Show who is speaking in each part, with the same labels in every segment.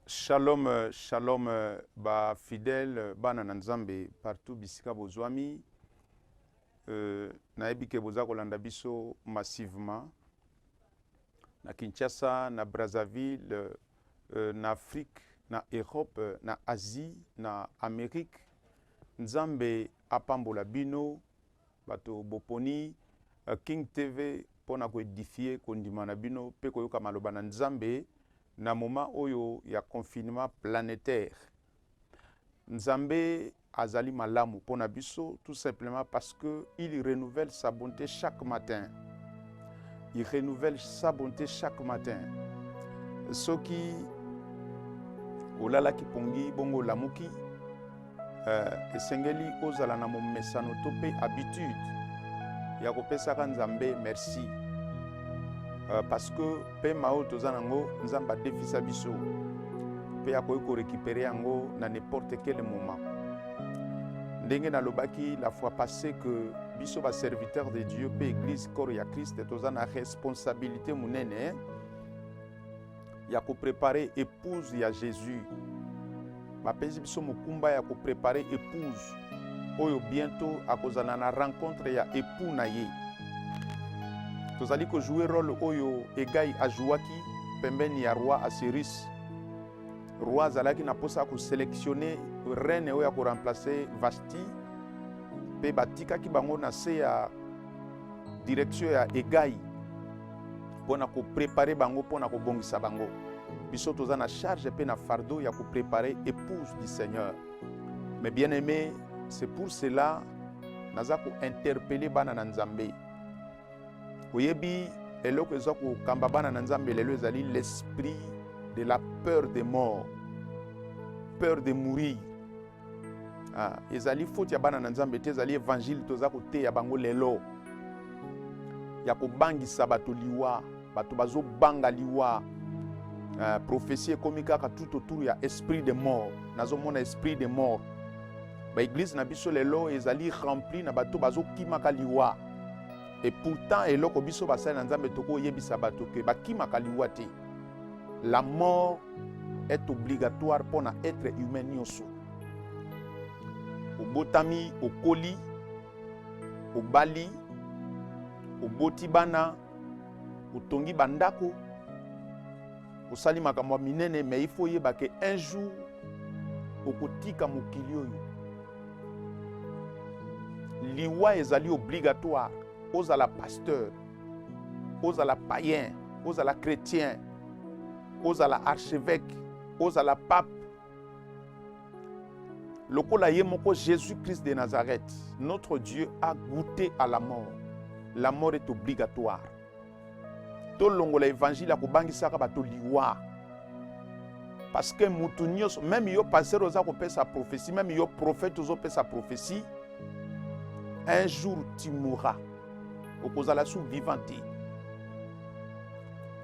Speaker 1: Shalom, shalom ba fidèles bana na Nzambe partout bisika bozwami. Euh, nayebi ke boza kolanda biso massivement na Kinshasa, na Brazzaville, euh, na Afrique, na Europe, na Asie, na Amérique. Nzambe apambola bino Bato boponi King TV mpo na ko edifier kondima na bino mpe koyoka maloba na Nzambe na moment oyo ya confinement planetaire. Nzambe azali malamu mpo na biso tout simplement parce que il renouvelle sa bonte chaque matin. Il renouvelle sa bonte chaque matin. Soki olalaki pongi bongo olamuki, Uh, esengeli ozala na momesano to mpe habitude ya kopesaka nzambe merci uh, parce que mpema oyo toza nango nzambe adefisa biso mpe akoki korekipere yango na n'importe quel moment ndenge nalobaki la fois passé que biso baserviteur de dieu mpe église corps ya christ toza na responsabilité monene ya ko preparer epouse ya Jesus. Bapesi biso mokumba ya ko preparer epouse oyo bientôt akozala na rencontre ya epoux na ye. Tozali ko jouer role oyo Egai ajouaki pembeni ya roi Asirus. Roi azalaki na posa ya ko selectionner reine oyo ya ko remplacer Vashti mpe batikaki bango na se ya direction ya Egai. mpo na koprepare bango mpo na kobongisa bango biso toza na charge mpe na fardeau ya koprepare épouse du seigneur mais bien aimé c'est pour cela naza kointerpele bana na nzambe oyebi eloko eza kokamba bana na nzambe lelo ezali l'esprit de la peur de mort peur de mourir Ah, ezali foti ya bana na nzambe te ezali evanjile toza koteya bango lelo ya kobangisa bato liwa bato bazobanga liwa uh, ah, profesi ekomi kaka tout autour ya esprit de mort nazomona esprit de mort baeglize na biso lelo ezali rempli na bato bazokimaka liwa e pourtant eloko biso basali na nzambe tokoyebisa bato ke bakimaka liwa te la mort est obligatoire mpo na etre humain nyonso obotami okoli obali oboti bana otongi bandako osali makambo ya minene mais il faut oyeba ke un jour okotika mokili oyo liwa ezali obligatoire ozala pasteur ozala païen ozala chrétien ozala archevêque ozala pape lokola ye moko jésus-christ de nazareth notre dieu a goûté à la mort la mort est obligatoire tolongola évangile ya kobangisaka bato liwa parce que motu nyonso meme yo pasteur oza kopesa prophétie meme yo prophète ozopesa prophétie un jour tu mourras okozala su vivant te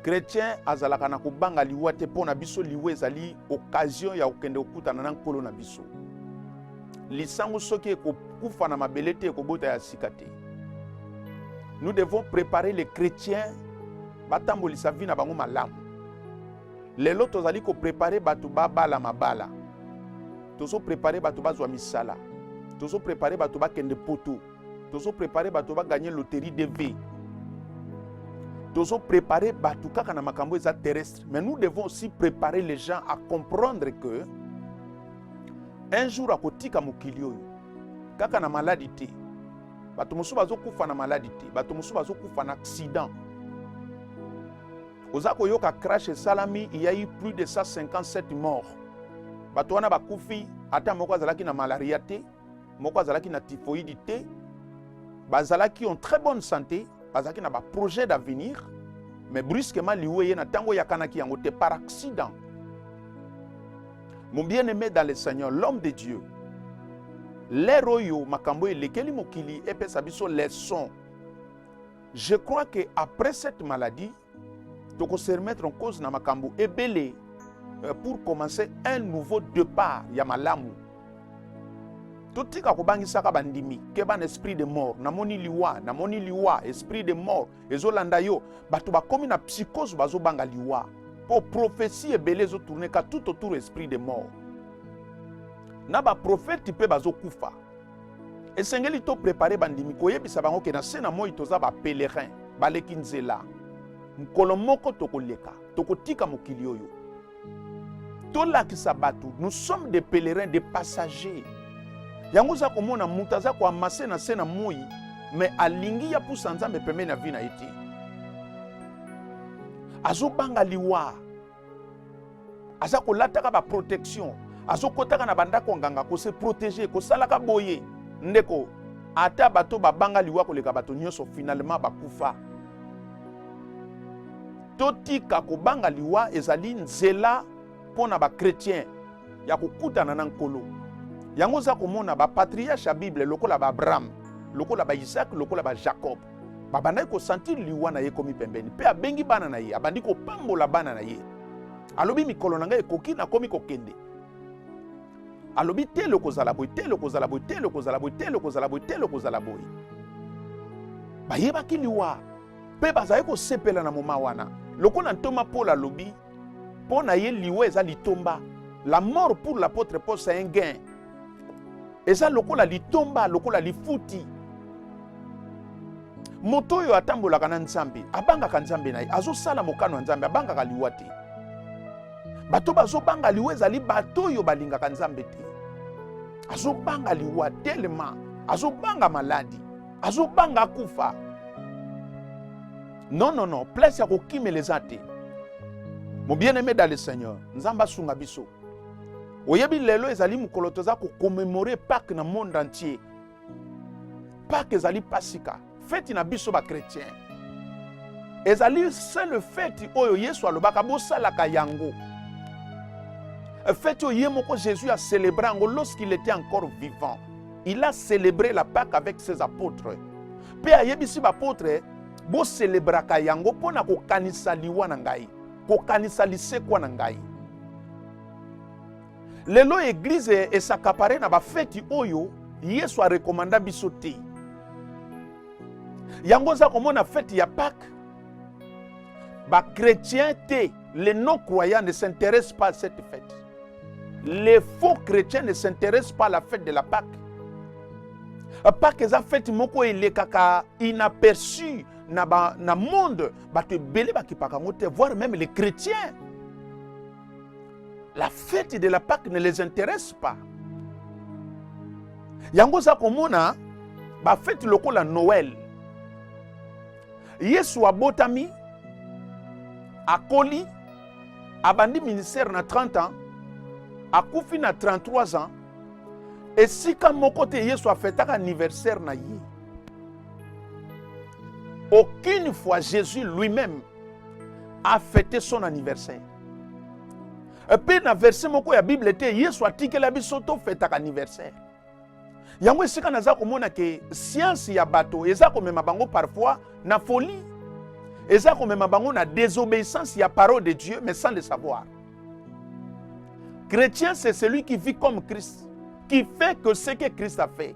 Speaker 1: kretien azalaka na kobanga liwa te mpo na biso liwa ezali okazio ya kokende kokutana na nkolo na biso lisango soki ekokufa na mabele te ekobota ya sika te nous devons préparer les chrétiens batambolisa vi na bango malamu lelo tozali koprepare bato babala mabala tozoprepare bato bazwa misala tozoprepare bato bakende poto tozo prepare bato ba gagner loterie de vie tozo prepare bato kaka na makambo eza terrestre mais nous devons aussi préparer les gens à comprendre que un jour akotika mokili oyo kaka na maladi te bato mosusu bazokufa na maladi te bato mosusu bazokufa na accident oza koyoka crash esalami il y a eu plus de 157 morts bato wana bakufi ata moko azalaki na malaria te moko azalaki na typhoïde te bazalaki en très bonne santé bazalaki na baprojet d'avenir mais brusquement liwa eye na ntango eyakanaki yango te par accident mon bien aimé dans le seigneur l'homme de dieu lere oyo makambo oyo elekeli mokili epesa biso leson je crois que après cette maladie toko se remettre en cause na makambo ebele euh, pour commencer un nouveau départ ya malamu totika kobangisaka bandimi keba na esprit de mort namoni liwa namoni liwa esprit de mort ezolanda yo bato bakomi na psychose bazobanga liwa mpo prophesie ebele ezotourneka tout autour esprit de mort na baprofeti mpe bazokufa esengeli to prepare bandimi koyebisa bango ke na se na moi toza ba pèlerin baleki nzela mokolo moko tokoleka tokotika mokili oyo tolakisa bato nous sommes des pèlerins des passagers yango oza komona moto aza koamase na se na moi me alingi ya pusa nzambe pembeni ya vi na ye te azobanga liwa aza kolataka baprotection azokotaka na bandako ya nganga kose protege kosalaka boye ndeko ata bato babanga liwa koleka bato nyonso finalement bakufa totika kobanga liwa ezali nzela mpo na bakretien ya kokutana na nkolo yango oza komona bapatriarche ya bible lokola baabraham lokola baisake lokola bajacob babandaki kosantire liwa na ye ekomi pembeni mpe abengi bana na ye abandi kopambola bana na ye alobi mikolo na ngai ekoki nakomi kokende alobi tele okozala boye tele okozala boye tele okozala boye tele okozala boye tele okozala boye bayebaki liwa mpe bazali kosepela na moma wana lokola ntoma polo alobi Mpo na ye liwa eza litomba. La mort pour l'apôtre Paul c'est un gain. Eza lokola litomba, lokola lifuti. Moto oyo atambolaka na Nzambe, abangaka Nzambe na ye, azosala mokano ya Nzambe, abangaka liwa te. Bato bazobanga liwa ezali bato oyo balingaka Nzambe te. Azobanga liwa telema, azobanga maladi, azobanga kufa. Non, non, non, place ya kokimela eza te. Mon bien-aimé dans le Seigneur, Nzamba sunga biso. Oyebi lelo ezali mokolo toza ko commémorer Pâques na monde entier. Pâques ezali pasika, feti na biso ba chrétiens. Ezali seule feti oyo Yesu alobaka bosalaka yango. Feti oyo ye moko Jésus a célébré yango lorsqu'il était encore vivant. Il a célébré la Pâques avec ses apôtres. Mpe ayebisi ba apôtres boselebraka yango mpo na kokanisa liwa na ngai kokanisa lisekwa na ngai lelo eglize esakapare na bafeti oyo yesu arekomanda biso te yango oza komona feti ya pake bakretien te les non croyants ne s'intéressent pas à cette fête Les faux chrétiens ne s'intéressent pas à la fête de la Pâque. Pâque eza fête moko elekaka inaperçu na ba na monde bato ebele bakipaka yango te voire même les chrétiens. La fête de la Pâque ne les intéresse pas. Yango za komona ba fête lokola Noël Yesu abotami, akoli, abandi ministère na 30 ans, akufi na 33 ans. Esika moko te Yesu afetaka anniversaire na ye. Aucune fois Jésus lui-même a fêté son anniversaire. Mpe na verse moko ya Bible te Yesu atikela biso tofetaka anniversaire. yango esika naza komona ke siansi ya bato eza komema bango parfois na folie eza komema bango na désobéissance ya parole de dieu mais sans le savoir chrétien c'est celui qui vit comme christ qui fait que ce que christ a fait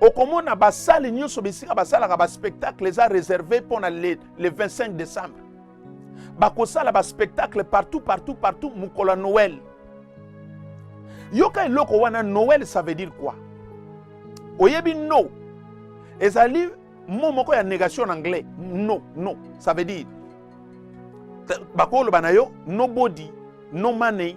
Speaker 1: okomona basale nyonso bisika basalaka baspectacle eza réservé mpo na le, le 25 décembre bakosala baspectacle partout partout partout mokolo ya noel yoka eloko wana noel ça veut dire quoi oyebi no ezali mo moko ya négation na anglais no no ça veut dire bakoloba na yo nobody no money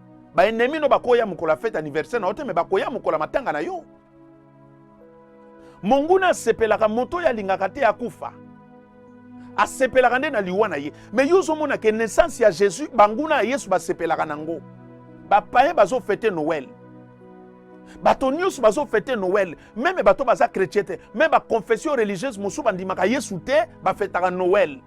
Speaker 1: Ba ennemis no bakoya mokolo ya fete anniversaire na yo te mais bakoya mokolo ya matanga na yo. Monguna asepelaka moto oyo alingaka te akufa. Asepelaka nde na liwa na ye. Mais yo ozomona ke naissance ya Jésus banguna ya Yesu basepelaka nango. Ba païens bazo fete Noël. bato nyonso bazofete noel meme bato baza chrétien te meme baconfession religieuse mosusu bandimaka yesu te bafetaka noel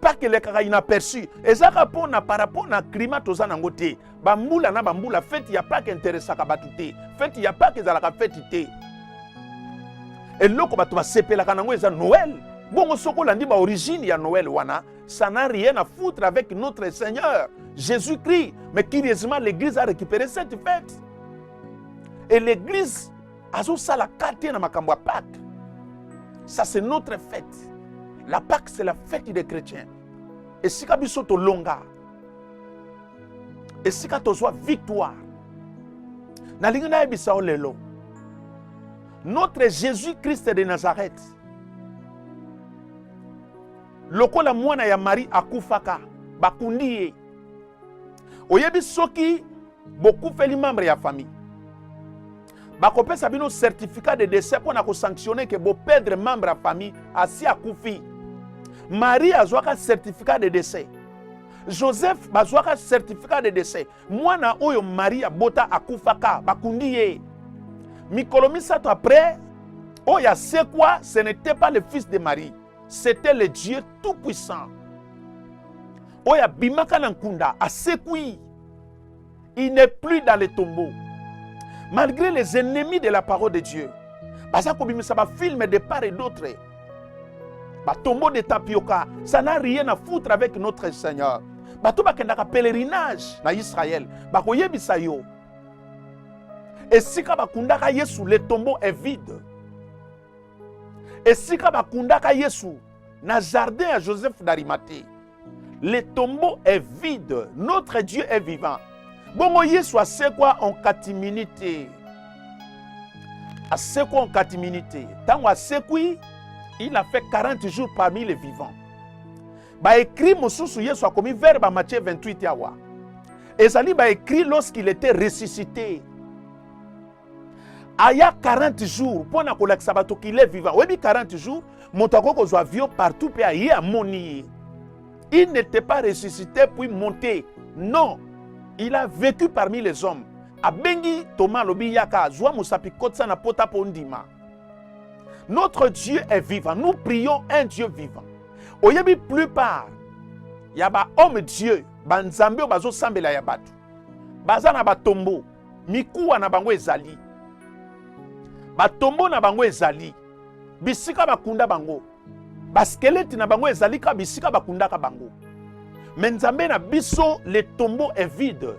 Speaker 1: parke elekaka inaperçu ezaka mpo na par rapport na climat toza nango te bambula na bambula feti ya pake interesaka bato te feti ya pake ezalaka feti te eloko bato basepelaka nango eza noel bongo soki olandi baorigine ya noel wana ça n'a rien à foutre avec notre seigneur jésus christ mais curieusement l'église a récupéré cette fête et l'église azosala ka te na makambo ya pake ça c'est notre fête la pake c'est la fête des chrétiens esika biso tolonga esika tozwa victoire nalingi nayebisa yo lelo notre jésus christ de nazareth lokola mwana ya marie akufaka bakundi ye oyebi soki bokufeli membre ya famille bakopesa bino certificat de décès mpo na kosanctionne ke bopedre membre ya famille asi akufi marie azwaka certificat de décès joseph bazwaka certificat de décès mwana oyo marie abota akufaka bakundi ye mikolo misato après oyo asekwa ce n'était pas le fils de marie c'était le dieu tout puissant oyo abimaka na nkunda asekwi il n'est plus dans les tombeaux malgré les ennemis de la parole de dieu baza kobimisa bafilme de part et d'autre batombo de tapioka ça n'a rien à foutre avec notre seigneur bato bakendaka pèlerinage na israel bakoyebisa yo esika bakundaka yesu le tombeau est vide esika bakundaka yesu Na jardin ya Joseph d'Arimathie, le tombeau est vide, notre Dieu est vivant. Bongo Yesu asekwa en katimini te, asekwa en katimini te. Ntango asekwi, il a fait 40 jours parmi les vivants. Baekri mosusu Yesu akomi vers ba Matthieu 28 awa ezali baekri lorsqu'il était ressuscité aya 40 jours mpo na kolakisa bato qu'il est vivant oyebi 40 jours moto akoki kozwa avion partout mpe aye amoni ye il n'était pas ressuscité puis monté non il a vécu parmi les hommes abengi toma alobi yaka zwa mosapi kotisa na pota mpo ndima notre dieu est vivant nous prions un dieu vivant oyebi plupart ya bahomme dieu banzambe oyo bazosambela ya bato baza na batombo mikuwa na bango ezali batombo na bango ezali bisika bakunda bango baskeleti na bango ezali kaka bisika bakundaka bango me nzambe na biso le tombeau est vide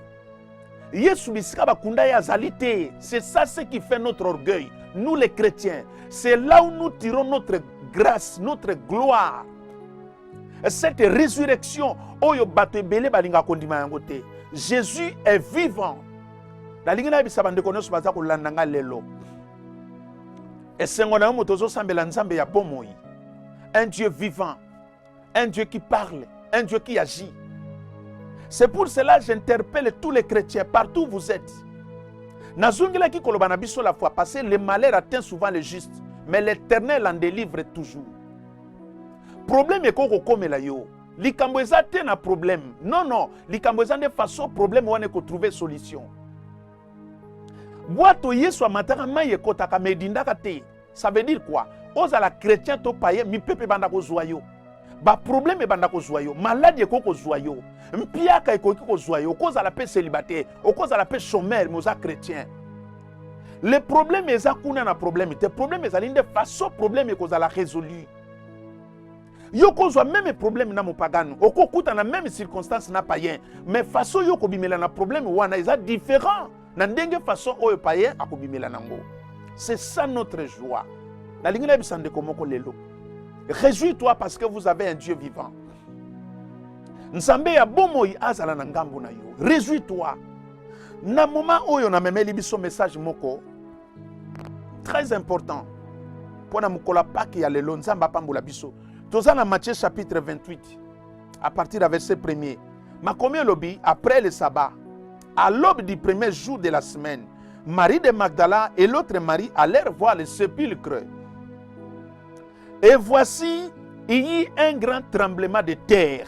Speaker 1: yesu bisika bakunda ye azali te c'est ça ce qui fait notre orgueil nous les chrétiens c'est là où nous tirons notre grâce notre gloire cette résurrection oyo bato ebele balingaka kondima yango te jésus est vivant nalingi nayebisa bandeko nyonso baza kolanda ngai lelo esengo na yo moto ozosambela nzambe ya bomoi un dieu vivant un dieu qui parle un dieu qui agit c'est pour cela j'interpelle tous les chrétiens partout où vous êtes nazongelaki koloba na biso la fois passé le malheur atteint souvent le juste mais l'éternel en délivre toujours problème ekoki kokomela yo likambo eza te na problème non non likambo eza nde façon problème wana ekotrouve solution bwato yesu amataka mai ekotaka ma edindaka te ça veut dire quoi ozala chrétien to paye mipepe ebanda kozwa yo baproblème ebanda kozwa yo maladi ekoki kozwa yo mpiaka ekoki kozwa yo okozala mpe célibataire okozala mpe chomere me oza chrétien le problème eza kuna na problème te problème ezali nde façon problème ekozala résolu yo kozwa meme problème na mopagano okokuta na meme circonstance na payen mais façon yo kobimela na problème wana eza différent na ndenge façon oyo payen akobimela nango c'est ça notre joie nalingi nayebisa ndeko moko lelo réjouis toi parce que vous avez un dieu vivant nzambe ya bomoi azala na ngambo na yo réjouis toi na moma oyo namemeli biso message moko très important mpo na mokolo ya pake ya lelo nzambe apambola biso toza na matthieu chapitre 28 à partir ya verset premier makomi elobi après le sabbat à l'aube du premier jour de la semaine marie de magdala et l'autre marie allèrent voir le sépulcre et voici il y eut un grand tremblement de terre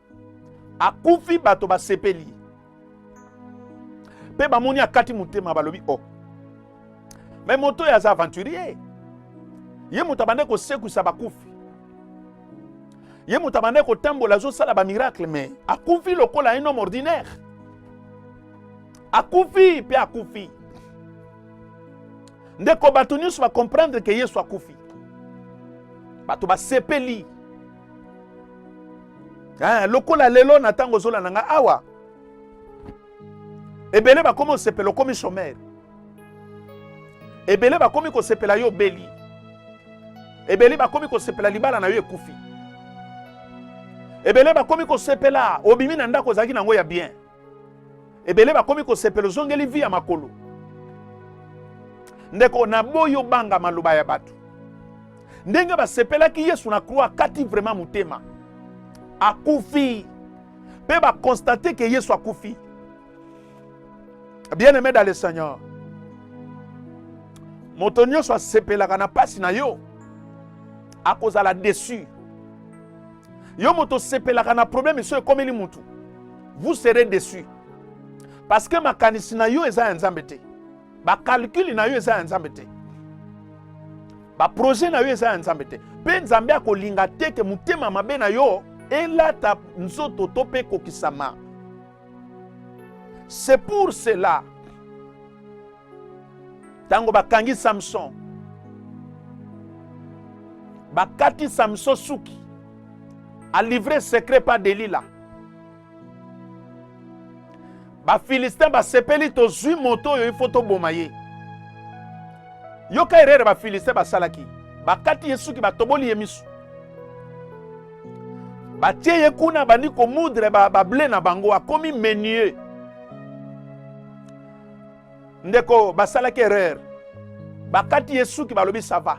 Speaker 1: akufi bato basepeli mpe bamoni akati motema balobi o oh. me moto oyo aza aventurier ye moto abandaki kosekwisa bakufi ye moto abandaki kotambola azosala bamiracle me akufi lokola un homme ordinaire akufi mpe akufi ndeko bato nyonso bacomprendre ke yesu akufi bato basepeli eh, lokola lelo na ntango ozolanda ngai awa ebele bakomi osepela okomi chomere ebele bakomi kosepela yo obeli ebele bakomi kosepela libala na yo ekufi ebele bakomi kosepela obimi na ndako ozalaki na yango ya bien ebele bakomi kosepela ozongeli vi ya makolo ndeko naboyi obanga maloba ya bato ndenge basepelaki yesu na kroi akati vraimen motema akufi mpe bakonstate ke yesu akufi bien aime dans le seigneur moto nyonso asepelaka na mpasi na yo akozala desu yo moto osepelaka na problème esoyo ekomeli mutu vous serez déçu parce que makanisi na yo eza ya nzambe te bakalkule na yo eza ya nzambe te baprojet na yo eza ya nzambe te mpe nzambe akolinga te ke motema mabe na yo elata nzoto to mpe ekokisama c'est pour cela ntango bakangi samson bakati samson suki alivre secret pa delila bafilistin basepeli tozwi moto oyo ifo toboma ye yoka erere bafilistin basalaki bakati ye suki batoboli ye misu batie ye kuna bandi komudre bable ba na bango akomi menier ndeko basalaki erreur bakati ye suki balobi sava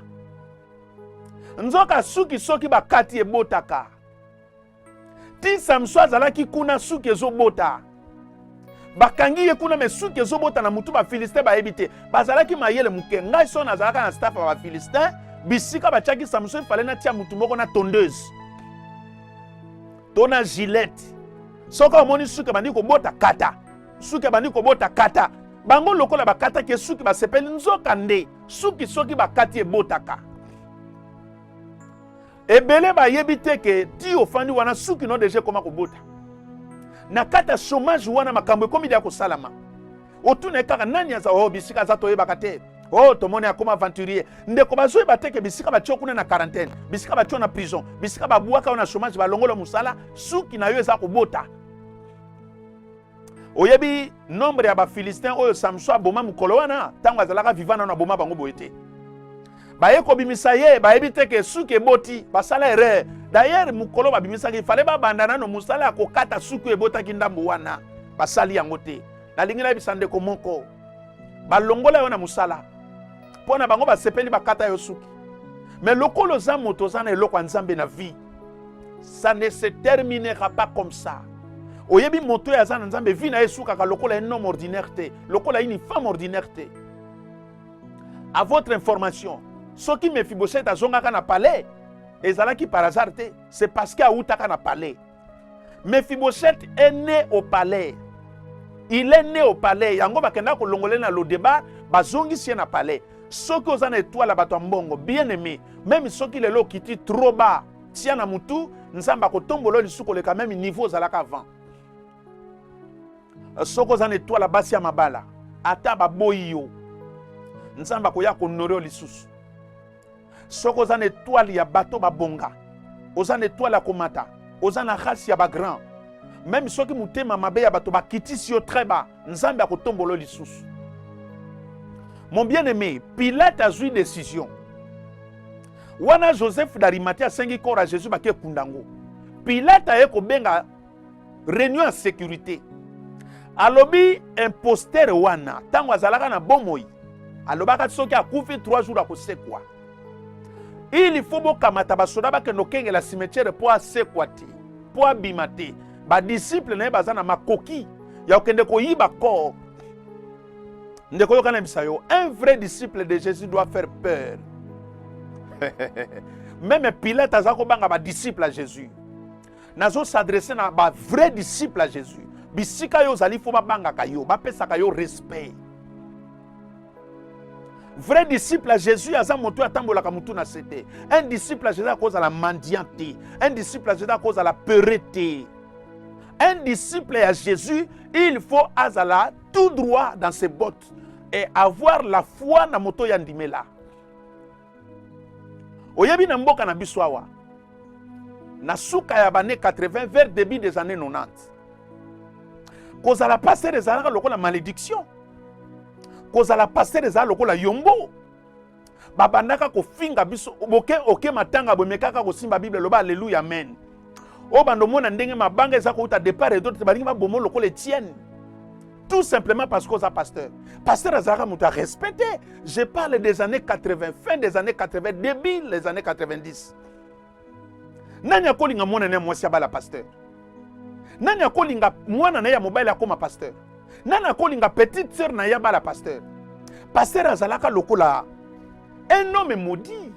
Speaker 1: nzoka suki soki bakati ebotaka ti samso azalaki kuna suki ezobota bakangi ye kuna me suki ezobota na motu bafilistin bayebi te bazalaki mayele moke ngai so nazalaka na staff ya bafilistin bisika batiaki samso efale natia motu moko na tondeuse to na gilete soki omoni suki ebandi kobota kata suki abandi kobota kata bango lokola bakataki ye suki basepeli nzoka nde suki soki bakati ebotaka ebele bayebi te ke ti ofandi wana suki no deja ekoma kobota na kati ya chomage wana makambo ekomi deya kosalama otuna ye kaka nani aza o oh, bisika aza toyebaka te o oh, tomoni akoma aventurier ndeko bazoyeba te ke bisika batio kuna na quarantaine bisika batio na prison bisika babwaka yo na chomage balongola mosala suki na yo eza kobota oyebi nombre ya bafilistin oyo samson aboma mokolo wana ntango azalaka viva nano aboma bango boye te baye kobimisa ye bayebi te ke suki eboti basala erreur dayere mokolo babimisaki fale babanda nano mosala ya kokata suki oyo ebotaki ndambo wana basali yango te nalingi nayebisa ndeko moko balongola yo na mosala mpo na bango basepeli bakata yo suki me lokola oza moto oza na eloko ya nzambe na vie ça ne se terminera pas comme ça oyebi moto oyo aza na nzambe vi na ye esukaka lokola un homme ordinaire te lokola une femme ordinaire te à votre information soki mefiboset azongaka na palais ezalaki par hasard te c'est parce que awutaka na palais mefiboset est né au palais il est né au palais yango bakendaka kolongole na lodeba bazongisi ye na palais soki oza na etoile ya bato ya mbongo bien aime meme soki lelo okiti trop bas tia na motu nzambe akotombola yo lisusu koleka meme niveau ozalaka avant soki oza na etoile ya basi ya mabala ata baboyi yo nzambe akoya konore yo lisusu soki oza na etoile ya bato babonga oza na etoile ya komata oza na race ya bagrand meme soki motema mabe ya bato bakitisi yo très bas nzambe akotombolo lisusu mon bien aimé pilate azwi décision wana joseph darimati asengi corps ya jésus bake ekunda yango pilate aye kobenga Réunion en sécurité. Alobi imposteur wana tango azalaka na bomoi alobaka soki akufi 3 jours akosekwa. Il faut bokamata basoda bakende okengela cimetière mpo asekwa te mpo abima te badisiple na ye baza na makoki ya kokende koyiba corps ndeko yoka nayebisa yo un vrai disciple de jésus doit faire peur meme pilate aza kobanga badisciple ya jésus nazo s'adresser na ba vrai disciple ya Jésus bisika yo ozali fo babangaka yo bapesaka yo respect vrai disciple ya jésus aza moto oyo atambolaka motu na se te un disciple ya jésus akozala mendiant te un disciple ya jésus akozala pere te un disciple ya jésus il faut azala tout droit dans ses bottes et avoir la foi na moto ya ndimela oyebi na mboka na biso awa na suka ya bane 80 vers début des années 90 kozala pasteur ezalaka lokola malédiction kozala pasteur ezala lokola yombo babandaka kofinga biso boke oke matanga bomekaka kosimba bible loba aleluya amen oyo bando omona ndenge mabanga eza kouta depart et d'autre balingi babomo lokola etienne tout simplement parce que oza pasteur pasteur azalaka moto ya respect te je parle des années 80 fin des années 80 début les années 90 nani akolinga mwana na ya mwasi abala pasteur nani akolinga mwana na ye ya mobali akoma pasteur nani akolinga petite sœur na ye abala pasteur pasteur azalaka lokola un homme maudit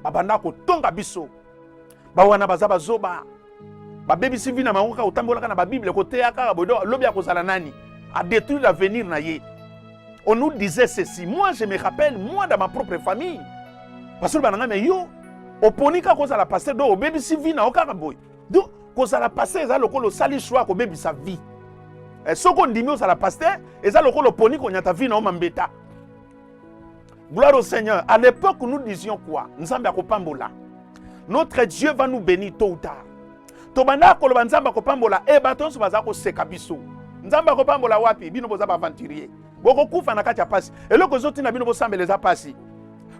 Speaker 1: babanda kotonga biso ba wana baza bazoba babebisi vi na bango kaka otambolaka na babible koteya kaka boye donc lobi akozala nani adétruire l'avenir na ye on nous disait ceci moi je me rappelle moi dans ma propre famille basolo bananga me yo oponi kaka kozala paster donc obebisi vi na yo kaka boye donc kozala paster eza lokola osali choix kobebisa vie eh, soki ondimi ozala paster eza lokola oponi konyata vi na yo mambeta Gloire au Seigneur. À l'époque, nous disions quoi Nzambe akopambola. Notre Dieu va nous bénir tôt ou tard. Tobanda koloba Nzambe akopambola e eh, bato nyonso baza koseka biso. Nzambe akopambola wapi? Bino boza ba aventurier. Bokokufa na kati ya pasi. Eloko ezoti na bino bosambela eza pasi.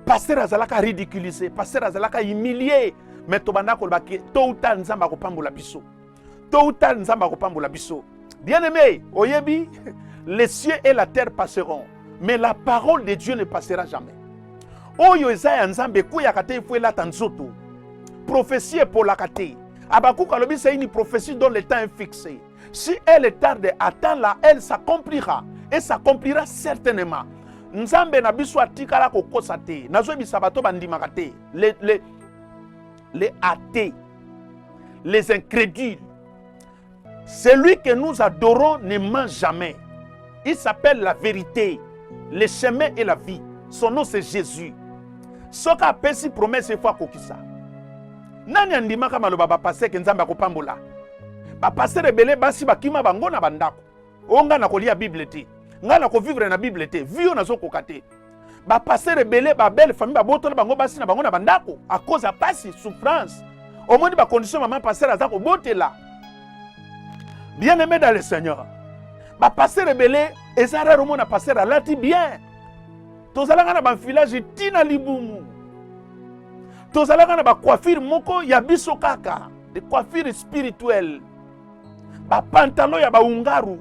Speaker 1: Pasteur azalaka ridiculiser, pasteur azalaka humilier, mais tobanda koloba tôt ou tard Nzambe akopambola biso. Tôt ou tard, Nzambe akopambola biso. Bien-aimé, oyebi, les cieux et la terre passeront, mais la parole de Dieu ne passera jamais. Oyo eza ya Nzambe ekweyaka te ifo elata nzoto. Prophetie epolaka te. Habakkuk alobi c'est une prophétie dont le temps est fixé. Si elle est tarde, attends-la, elle s'accomplira et s'accomplira certainement. Nzambe na biso atikala kokosa te. Nazoyebisa bato bandimaka te. Le, le, les athées, les incrédules. Celui que nous adorons ne ment jamais. Il s'appelle la vérité, le chemin et la vie. Son nom c'est Jésus. soki apesi promese efo akokisa nani andimaka maloba bapaseke nzambe akopambola bapastere ebele basi bakima bango na bandako o oh, ngai nakolia bible te ngai nakovivre na bible te vi oyo nazokoka te bapastere ebele babele famille babotola bango basi na bango na bandako a cause ya mpasi souffrance omoni bacondition mama pastere aza kobotela bien aimé dans le seigneur bapastere ebele eza rare omona pastere alati bien tozalaka na bamfilage ti na libumu tozalaka na bacoiffure moko ya biso kaka de coiffure spirituelle ba pantalon ya ba ungaru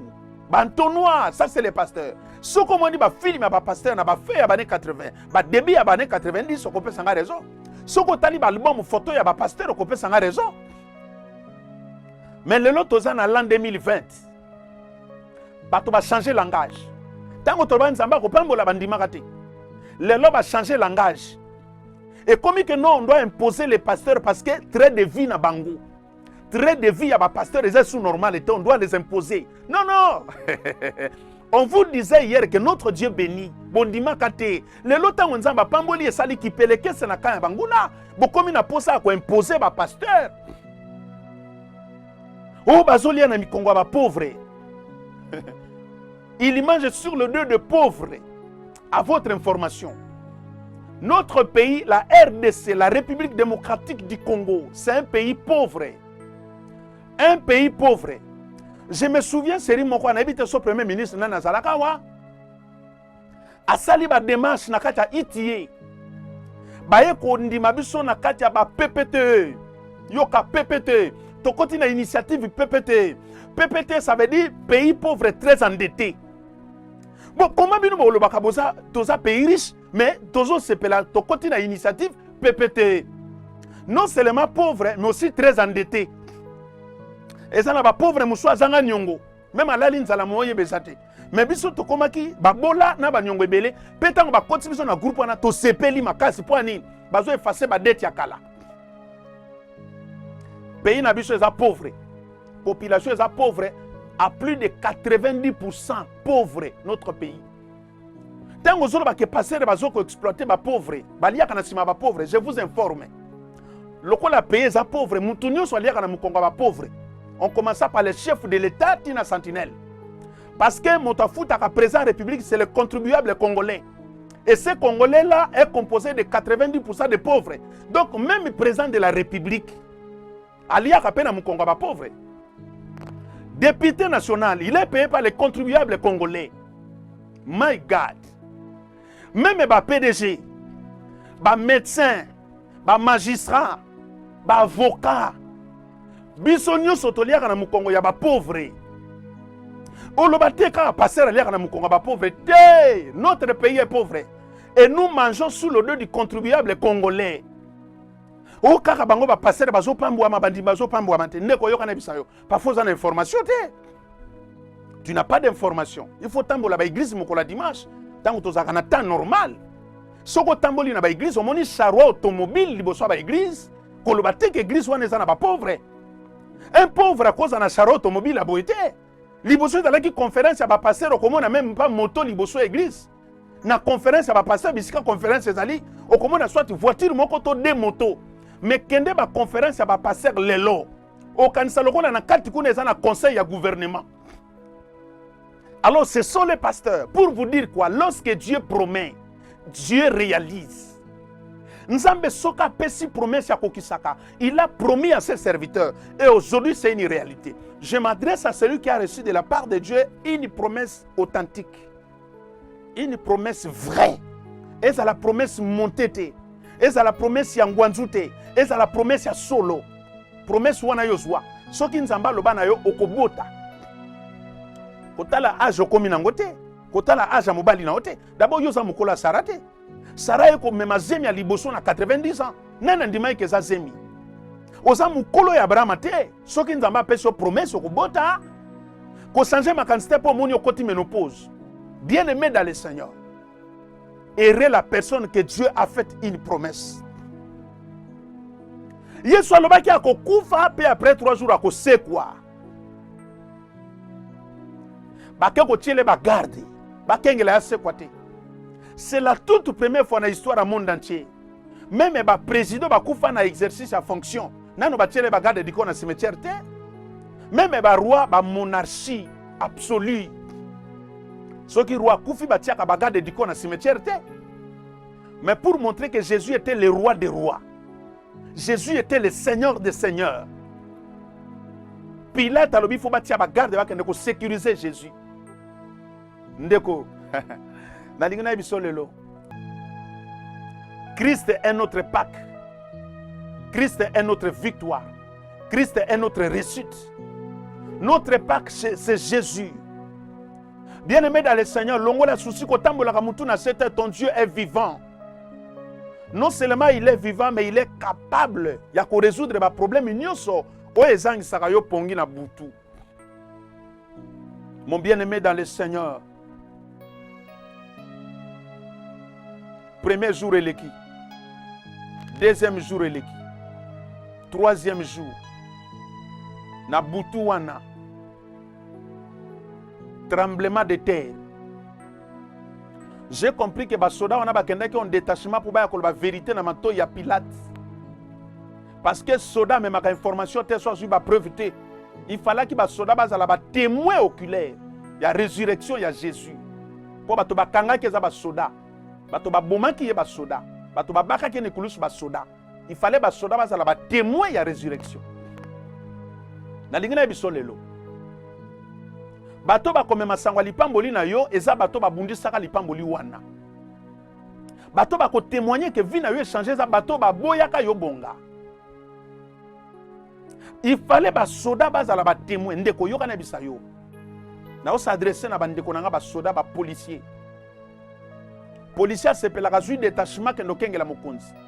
Speaker 1: ba noir ça c'est les pasteurs soki omoni bafilme ya bapasteur na bafe ya bane 80 badebi ya bane 90 okopesa nga raison soki otali baalbum foto ya bapasteur okopesa nga raison mais lelo toza na l'an 2020 bato bachange langage ntango toloba nzambe akopambola bandimaka te lelo bachange langage ekomi ke non on doit imposer les pasteurs parce que trait de vie na bango Très de vie à ma pasteur, ils sont normal et on doit les imposer. Non, non On
Speaker 2: vous disait hier que notre Dieu bénit. Bondima kate. Le lota nzamba pamboli et sali ki peleke se na kaya banguna. Bokomi na posa à imposer ba pasteur. Oh bazolia na mikongo ba pauvre. Il mange sur le dos de pauvre. À votre information, notre pays, la RDC, la République démocratique du Congo, c'est un pays pauvre. Un pays pauvre. Je me souviens, Seri Moko, on habite son premier ministre, Nana Zalakawa, a sali ba démarche na kati ya ITIE. Baye kondima biso na kati ya ba PPTE. Yoka PPTE. Tokoti na initiative PPTE. PPTE, ça veut dire pays pauvre très endetté. Bon, comment bino bolobaka boza toza pays riche mais tozo sepela tokoti na initiative PPT. Non seulement pauvre mais aussi très endetté. Eza na ba pauvre musu azanga nyongo. Même alali nzala moye bezate. Mais biso tokomaki babola na banyongo ebele mpe ntango bakoti biso na groupe wana tosepeli makasi mpo ya nini bazo efase badete ya kala pays na biso eza pauvre population eza pauvre à plus de 90 pauvre notre pays ntango ozoloba ke pasere bazo koexploite bapauvre baliaka na nsima ya bapauvre je vous informe lokola pays eza pauvre motu nyonso aliaka na mokongo ya bapauvre on commença par le chef de l'état tina sentinelle parce que moto afutaka président ya république c'est le contribuable congolais et ce congolais là est composé de 90 de pauvres donc même président de la république Aliaka pe na mukongo ya ba pauvre. Député national, il est payé par les contribuables congolais. My God. Même ba PDG, ba médecins, ba magistrats, ba avocats. Biso nyoso toliaka na mukongo ya ba pauvre. oloba te kaka pasteur aliaka na mokongo ya bapauvre te notre pays est pauvre et nous mangeons sous le dos du contribuable congolais o kaka bango bapastere bazopambwama bandimi bazopambwama te ndeko oyoka na bisa yo parfois oza na information te tu n'as pas d'information il faut tambola baeglise mokolo ya dimanche ntango tozalaka na temps normal soki otamboli na baeglise omoni charroi automobile liboso ya baeglise koloba te ke eglise wana eza na bapauvre un pauvre akozala na charroi automobile ya boye te liboso ezalaki conference ya bapastere okomona meme mpa moto liboso ya eglise na conference ya bapasteur bisika conference ezali okomona soit voiture moko to de moto me kende baconference ya bapasteur lelo okanisa lokola na kati kuna eza na conseil ya gouvernement alors ce sont les pasteurs pour vous dire quoi lorsque dieu promet dieu réalise nzambe soki apesi promesse ya kokisaka il a promis à ses serviteurs et aujourd'hui c'est une réalité je m'adresse à celui qui a reçu de la part de dieu une promesse authentique une promesse vraie ezala promesse monte te ezala promesse ya ngwanzu te ezala promesse ya solo promesse wana yo zwa soki nzambe aloba na yo okobota kotala age okomi nango te kotala age ya mobali na yo te dabord yo oza mokolo ya sara te sara ye komema zemi ya liboso na 90 ans nani andimaki eza zemi oza mokolo ya abrahama te soki nzambe apesi yo promese okobota kochange makanisi te mpo omoni okoti menopause bien aimé dans le seigneur erre la personne que dieu a fait une promesse yesu alobaki akokufa mpe après 3 jours akosekwa bake kotiele bagarde bakengela ya sekwa te c'est la toute première fois na histoire ya monde entier meme ba président ba kufa na exercice ya fonction nano ba tiele ba garde du corps na cimetière te meme ba roi ba monarchie absolue soki roi akufi ba tiaka ba garde du corps na cimetière te mais pour montrer que Jésus était le roi des rois Jésus était le seigneur des seigneurs Pilate alobi faut ba tia ba garde ba kende ko sécuriser Jésus Ndeko, nalingi nayebi so lelo. Christ est notre Pâque. Christ est notre victoire. Christ est notre réussite. Notre Pâque, c'est Jésus. Bien-aimé dans le Seigneur, longola souci kotambolaka mutu na sete, ton Dieu est vivant. Non seulement il est vivant, mais il est capable ya ko résoudre ba problème nyonso oyo ezangisaka yo pongi na butu. Mon bien-aimé dans le Seigneur, premier jour eleki, deuxième jour eleki, troisième jour, na butu wana, tremblement de terre. J'ai compris que basoda wana bakendaki en détachement pour baya koloba vérité na matoi ya Pilate. parce que soda amemaka information te so azwi bapreuve te il falaki basoda bazala batémoin oculaire ya résurrection ya jésus mpo bato bakangaki eza basoda bato babomaki ye basoda bato babakaki ye nikulusu basoda il fallait basoda bazala batémoin ya résurrection nalingi na ye biso lelo bato bakomema sango ya lipamboli na yo eza bato babundisaka lipamboli wana bato bako témoigner que vie na yo echange eza bato baboyaka yo bonga il fallait basoda bazala batemoin ndeko oyoka na bisa yo naosa adresse na bandeko na nga basoda bapolicier policier asepelaka azwi detachement kende okengela mokonzi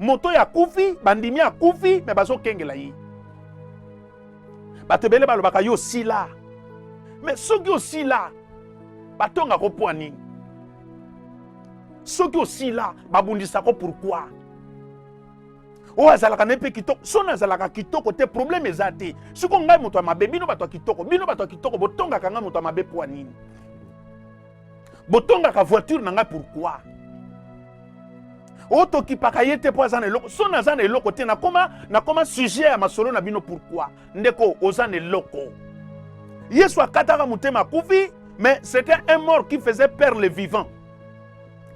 Speaker 2: moto oyo akufi bandimi akufi me bazokengela ye bato ebele balobaka yo osila me soki osila batonga ko mpo nini soki osila babundisa ko pourkui oyo azalaka na ye mpe kitoko soni azalaka kitoko te probleme eza te siko ngai moto ya mabe bino bato ya kitoko bino bato ya kitoko botongaka ngai moto ya mabe mpo nini botongaka voiture na ngai pourquoi otokipaka ye te mpo aza na eloko so naza na eloko te nakoma nakoma sujet ya masolo na bino pourquoi ndeko oza na eloko yesu akataka motema akufi mais c'était un mort qui faisait peur le vivant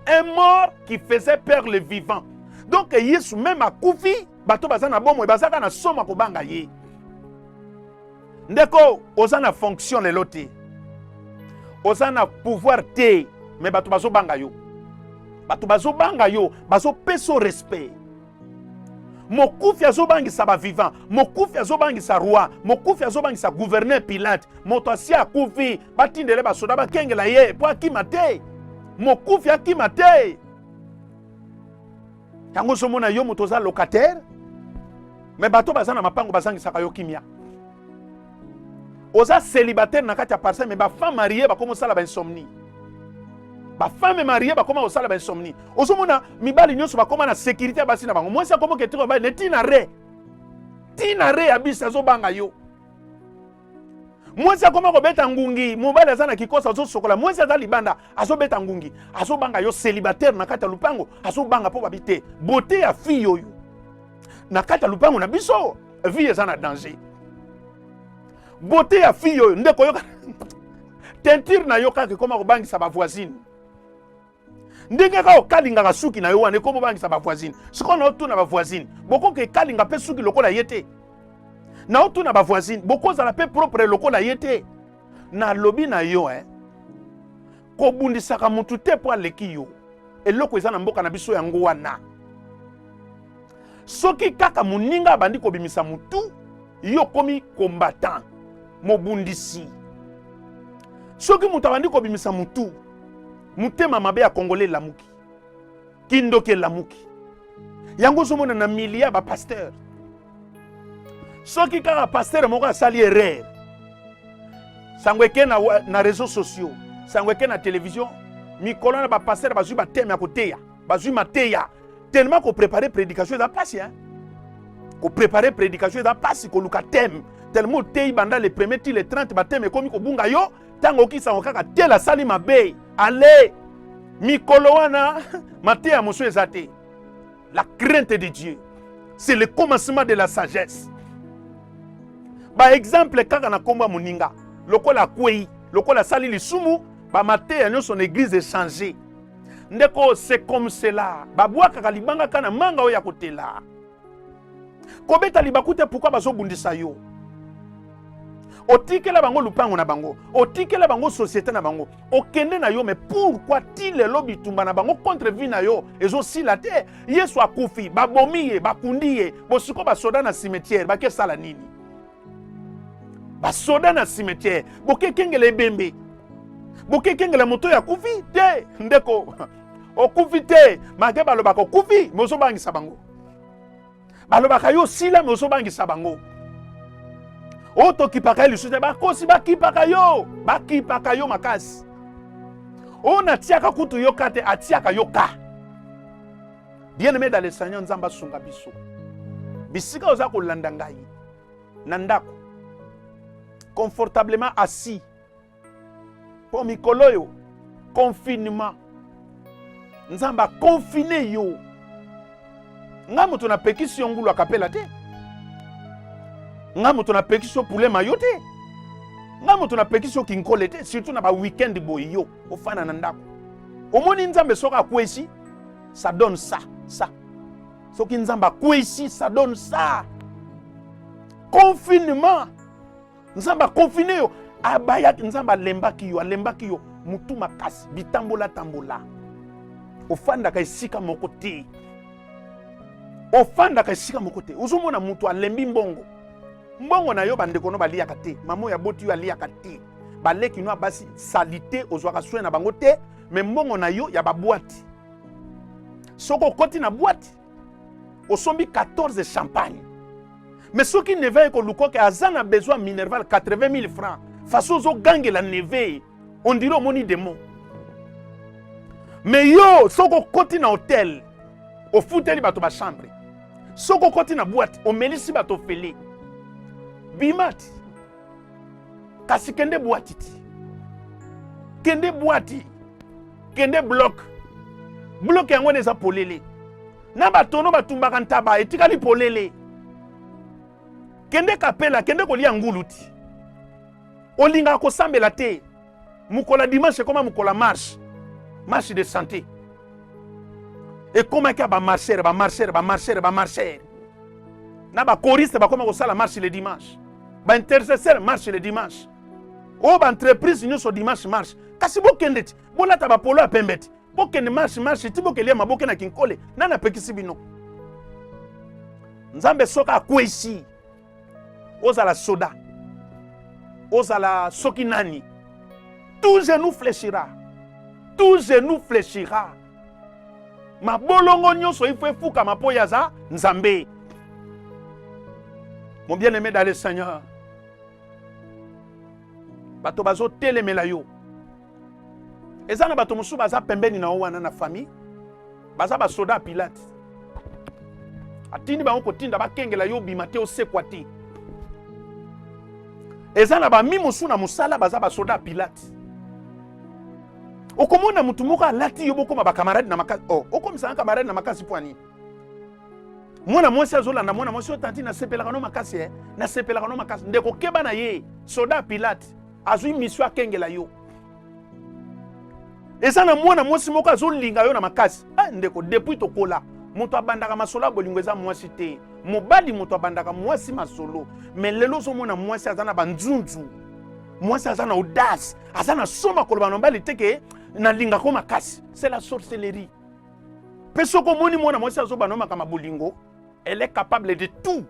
Speaker 2: un mort qui faisait peur le vivant donc yesu meme akufi bato baza na bomoi bazaka na soma kobanga ye Ndeko, oza na fonction lelo te, oza na pouvoir te, me bato bazobanga yo, bato bazobanga yo, bazopesa respect. Mokufi azobangisa ba vivant, mokufi azobangisa roi, mokufi azobangisa gouverneur Pilate, moto asi akufi, batindele basoda bakengela ye mpo akima te, mokufi akima te. yango ozomona yo moto oza locataire me bato baza na mapango bazangisaka yo kimia oza célibataire na kati ya parcelle me bafemme marie bakoma osala bainsomnie bafemme marie bakoma kosala bainsomnie ozomona mibali nyonso bakoma na sécurité ya basi na bango mwasi akoma oketiko mibali ne tina re tina re ya bisi azobanga yo mwasi akoma kobeta ngungi mobali aza na kikosa azosokola mwasi aza libanda azobeta ngungi azobanga yo célibataire na kati ya lupango azobanga mpo babi te bote ya fille oyo na kati ya lupango na biso vie eza na danger bote ya fille oyo nde koyoka tentire na yo kaka ekoma kobangisa bavoisine ndenge kaka okalingaka suki na yo wana ekomi obangisa bavoisine sikoyo naotuna bavoisine bokoka ekalinga mpe suki lokola ye te naotuna bavoisine bokozala mpe propre lokola ye te nalobi na yo eh. kobundisaka motu te mpo aleki yo eloko eza na mboka na biso yango wana soki kaka moninga abandi kobimisa motu yo okomi combattant mobundisi soki moto abandi kobimisa motu mutema mabe ya congolais lamuki kindoki elamuki yango ozomona na milia ba pasteur soki kaka pasteur moko asali erreur sango eke na, na réseaux sociaux sango eke na télévision mikolo na bapastere bazwi bateme ya koteya bazwi mateya tellement koprépare prédication eza mpasi hein? koprépare prédication eza mpasi koluka teme tellement oteyi banda le premier ti le 30 bateme ekomi kobunga yo ntango oki sango kaka tela asali mabe ale mikolo wana mateya mosusu eza te la crainte de dieu c'est le commencement de la sagesse baexemple kaka na nkombo ya moninga lokola akwei lokola asali lisumu bamateya nyonso na eglize echange ndeko se comme cela babwakaka libanga kaka na manga oyo ya kotela kobeta libaku te pourkui bazobundisa yo otikela bango lupango na bango otikela bango société na bango okende na yo mais pourquoi ti lelo bitumba na bango contre vie na yo ezosila te yesu akufi babomi ye bakundi ye bosiko basoda na cimetière bakesala nini basoda na cimetière bokekengela ebembe bokekengela moto ya kufi te ndeko okufi te malgre balobaka okufi me ozobangisa bango balobaka yo osila me ozobangisa bango oyo tokipaka ye lisusu te bakosi bakipaka yo bakipaka yo makasi oyo natiaka kutu yo ka te atiaka yo ka bien aime dans le seigneur nzambe asunga biso bisika oza kolanda ngai na ndako confortablement assis mpo mikolo oyo confinement nzambe akonfine yo ngai moto napekisi yo ngulu akapela te ngai moto napekisi yo pulema yo te ngai moto napekisi yo kinkole te surtout na baweekend boye yo ofana na ndako omoni nzambe soki akwesi ça donne ça ça soki nzambe akwesi ça donne ça confinement nzambe akonfine yo abayaki nzambe alembaki yo alembaki yo motu makasi bitambolatambola ofandaka esika moko te ofandaka esika moko te ozomona moto alembi mbongo mbongo na yo bandeko no baliyaka te mama oyo aboti yo aliyaka te baleki no ya basi salite ozwaka soin na bango te me mbongo na yo ya babwati soki okoti na bwati osombi 14 champagne mais soki neve aye koluka oke aza na besoin ya minerval 80 000 francs façon ozogangela neve on dirait omoni demo mais yo soki okoti na hotel ofuteli bato bachambre soki okoti na bwate omelisi bato ofele bimati kasi kende bwati ti kende bwati kende bloke bloke yango wana eza polele na batono batumbaka ntaba etikali polele kende kapela kende kolia ngulu ti olingaka kosambela te mokolo ya dimanche ekoma mokolo ya marche marche de santé ekomaki ya bamarchere bamarchere bamarchere bamarchere na bakoriste bakoma kosala marche le dimanche baintercesseur marche le dimanche oyo oh, baentreprise nyonso dimanche marche kasi bokende ti bolata bapolo ya pembe ti bokende marche marche ti bokelia maboke na kinkole nani apekisi bino nzambe soki akwesi ozala soda ozala soki nani tout genou fléchira tout genou fléchira mabolongo nyonso ifo efukama mpo ye aza nzambe mon bien aimé dans le seigneur bato bazotelemela yo eza na bato mosusu baza pembeni na yo wana na famille baza basoda ya pilate atindi bango kotinda bakengela yo obima te osekwa te eza na bami mosusu na mosala baza basoda ya pilate okomona motu moko alati yo bokoma bakamarade na makasi oh, okomisana kamarade na makasi mpo nini mwana mwasi azolanda mwana mwasi oyo tanti nasepelaka no makasi eh? nasepelaka no makasi ndeko keba na ye soda pilate azwi misio akengela yo eza na mwana mwasi moko azolinga yo na makasi ah, ndeko depuis tokola moto abandaka masolo ya bolingo eza mwasi te mobali moto abandaka mwasi masolo me lelo ozomona mwasi aza na banzunzu mwasi aza na audace aza na soma koloba na mobali te ke nalingako makasi c'est la sorcellerie mpe soki omoni mwana mwasi azobana yo makambo ya bolingo elle est capable de tout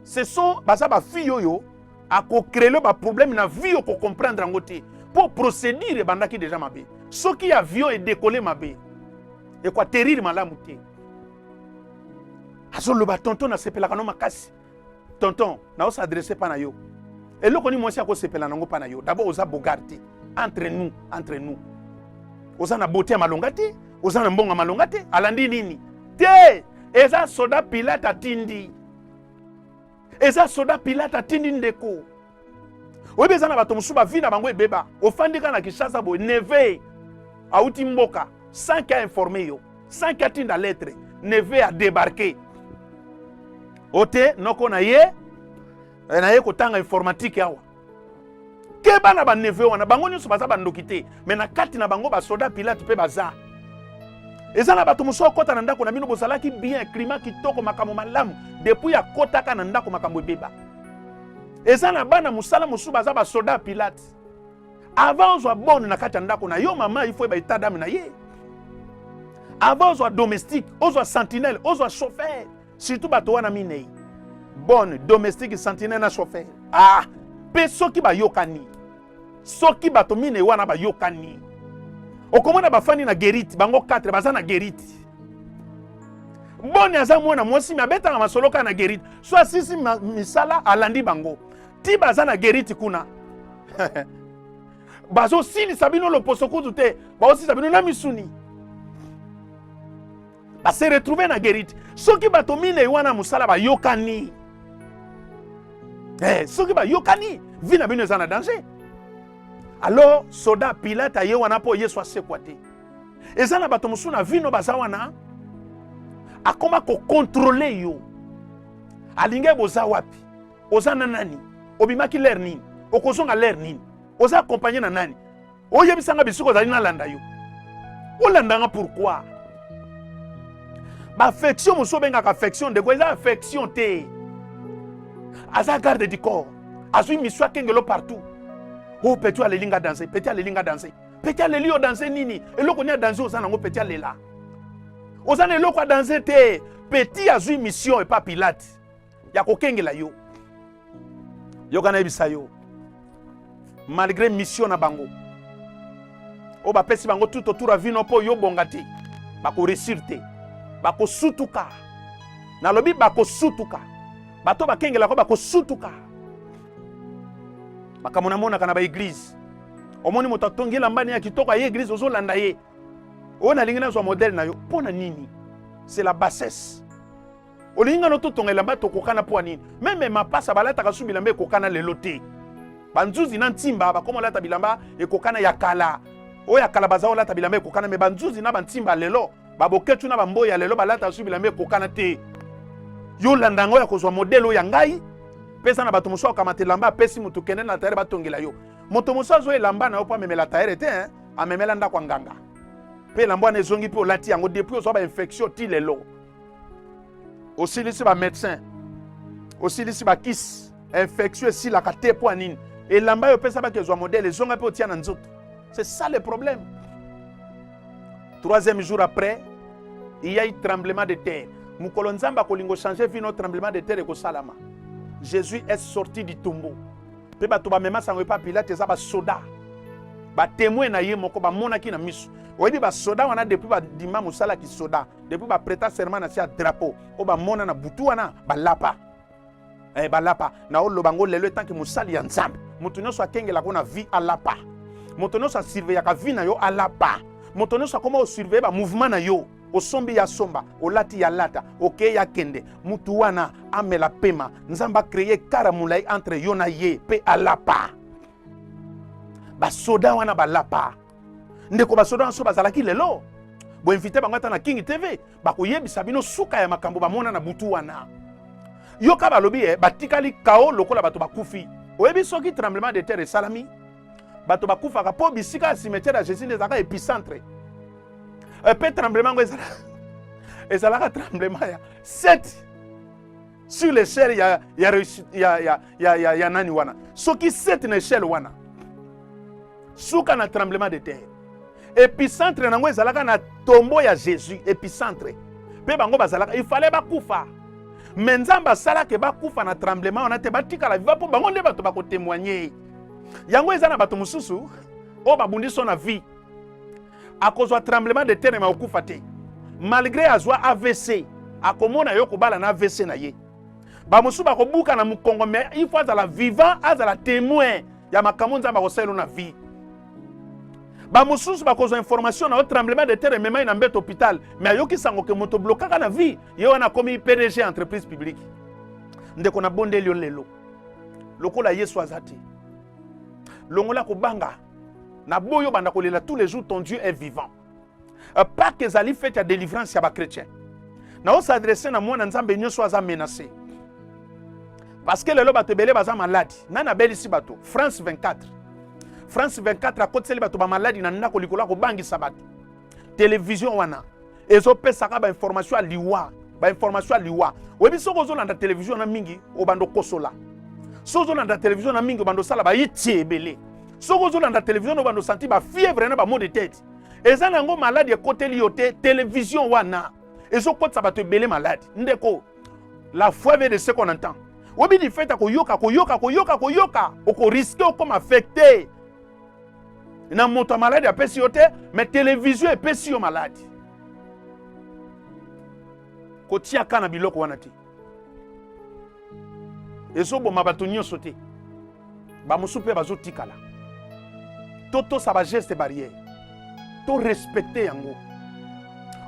Speaker 2: ce sont baza ba fille oyo akocrele baproblème na vie okocomprendre yango te mpo procédure ebandaki deja mabe soki avion edekole mabe ekoaterire malamu te azoloba tonton nasepelaka no makasi tonton naosadresse mpa na yo eloko nini mwasi akosepela nango mpa na yo dabord oza bogar te entre nous entre nous oza na bote ya malonga te oza na mbongo ya malonga te alandi nini te eza soda pilate atindi eza soda pilate atindi ndeko oyebi eza na bato mosusu bavi na bango ebeba ofandi kaka na kinshasa boye neve auti mboka sans ke ainforme yo sans ke atinda lettre neve adebarke o te noko na ye eh, na ye kotanga informatique awa keba na baneve wana bango nyonso baza bandoki te me na kati na bango basoda pilate mpe baza eza na bato mosusu akota na ndako na bino bozalaki bien klima kitoko makambo malamu depuis akotaka na ndako makambo ebeba eza na bana mosala mosusu baza basoda pilate avant ozwa bone na kati ya ndako na yo mama ifo eba etadame na ye avant ozwa domestique ozwa sentinelle ozwa chauffeur surtout bato wana minei bonne domestique sentinelle na chauffeur ah mpe soki bayokani soki bato minei wana bayokani okomona bafandi na gerite bango 4 baza na gerite boni aza mwana mwasi me abetaka masolo kaka na gerite so asisi misala alandi bango ti baza na gerite kuna bazosilisa bino loposo kutu te baosilisa bino na misuni ba se retrouver na guerite soki bato minei wana mosala bayokani eh, soki bayokani vi na bino eza na danger alors soda pilate aye wana mpo yesu asekwa te eza na bato mosusu na vino baza wana akoma kokontrole yo alingai boza wapi oza na nani obimaki lere nini okozonga lere nini oza akompagne na nani oyebisa nga bisika ozali nalanda yo olanda nga pourquoi baaffection mosusu obengaka affection ndeko eza affection te aza garde du corps azwi misu akengelo partout o oh, peti aleli nga danse peti aleli nga danse peti aleli yo danse nini eloko nini ya danse oza nango peti alela oza na eloko ya danse te peti azwi mission epa pilate ya kokengela yo yoka nayebisa yo malgré mission na bango oyo bapesi bango tout autour ya vino mpo yo bonga te bakoresir te bakosutuka nalobi bakosutuka bato bakengelaka bakosutuka makambo namonaka na baeglize omoni moto atongi elambani ya kitoko aye eglize ozolanda ye oyo nalingi nazwa modele na yo mpo na nini c'est la bassesse olingi ngano totonga elamba tokokana mpo ya nini meme mapasa balataka su bilamba ekokana lelo te banzuzi na ntimba bakoma olata bilamba ekokana ya kala oyo ya kala baza olata bilamba ekokana me banzuzi na bantimba lelo baboketu na bamboi ya lelo balataka su bilamba ekokana te yo landa yango ya kozwa modele oyo ya ngai pesa na bato mosusu akamata elamba apesi moto kende na tayere batongela yo moto mosusu azwa elamba na yo mpo amemela tayere te eh? amemela ndako ya nganga mpe elamba wana ezongi mpe olati yango depuis ozwa bainfektio ti lelo osilisi ba médecin osilisi ba kisi infection esilaka te mpo ya nini elamba yo opesa baki ezwa modele ezonga mpe otia na nzoto c'est ça le problème troisième jour après il y a eu tremblement de terre mokolo nzambe akolingo changer vie no tremblement de terre ekosalama jésus est sorti du tombeau mpe bato bamema sango epa pilate eza basoda batemoin na ye moko bamonaki na miso oyebi basoda wana depuis badima mosala kisoda depuis ba preta serment na sia drapeau o ba mona na butu wana balapa eh, balapa na oloba ngo lelo etanke mosali ya nzambe moto nyonso akengelaka na vie alapa moto nyonso asurveillaka vie na yo alapa moto nyonso akoma osurveille bamouvement na yo osombi ya somba olati ya lata okei ya kende motu wana amela pema nzambe akreye kara molai entre yo na ye mpe alapa basoda wana balapa ndeko basoda na so bazalaki lelo boinvite bango ata na king tv bakoyebisa bino suka ya makambo bamona na butu wana yoka balobi eh, batikali kao lokola bato bakufi oyebi soki tremblement de terre esalami bato bakufaka mpo bisika ya cimetière ya jésus nde ezalaka épicentre mpe eh, tremblement yango ezalaka tremblement ya 7 sur l'échelle ya, ya, ya, ya, ya, ya, ya nani wana soki sete na échelle wana suka na tremblement de terre epicentre na yango ezalaka na tombo ya jésus epicentre mpe bango bazalaka ifale bakufa me nzambe asalaka bakufa na tremblement wana te batikala viva mpo bango nde bato bakotemoigne yango eza na bato mosusu oyo babundi so na vie akozwa tremblement de terre me akokufa te malgre azwa avc akomona yo kobala na avc na ye bamosusu bakobuka na mokongo me il faut azala vivant azala témoin ya makambo nzambe akosalelo na vie bamosusu bakozwa information na yo tremblement de terre ememai na mbeto hôpital me ayoki sango ke moto blokaka na vie ye wana akomi pdg entreprise publique ndeko nabondeli yo lelo lokola yesu aza te longola kobanga na boyo banda kolela tous les jours ton dieu est vivant euh, pake ezali fete ya délivrance ya bachrétien naosadresse na mwana nzambe nyonso aza menacé parce que lelo bato ebele baza maladi nani abelisi bato france 24 france 24 akotiseli bato bamaladi na ndako likolo ya kobangisa bato television wana ezopesaka bainformation ya liwa bainformation ya liwa oyebi soki ozolanda television na mingi obanda okosola soki ozolanda television na mingi obanda osala bayiti ebele soki ozolanda television obanda osanti bafievre na bamo de tete eza na yango maladi ekoteli yo te television wana ezokotisa bato ebele maladi ndeko la foi ve de ce qu'on entend oyebi lifete koyoka koyoka koyoka koyoka okoriske okoma affecte na moto ya maladi apesi yo te me televizio epesi yo maladi kotiaka na biloko wana te ezoboma bato nyonso te bamosusu mpe bazotikala totosa bageste barrière torespecte yango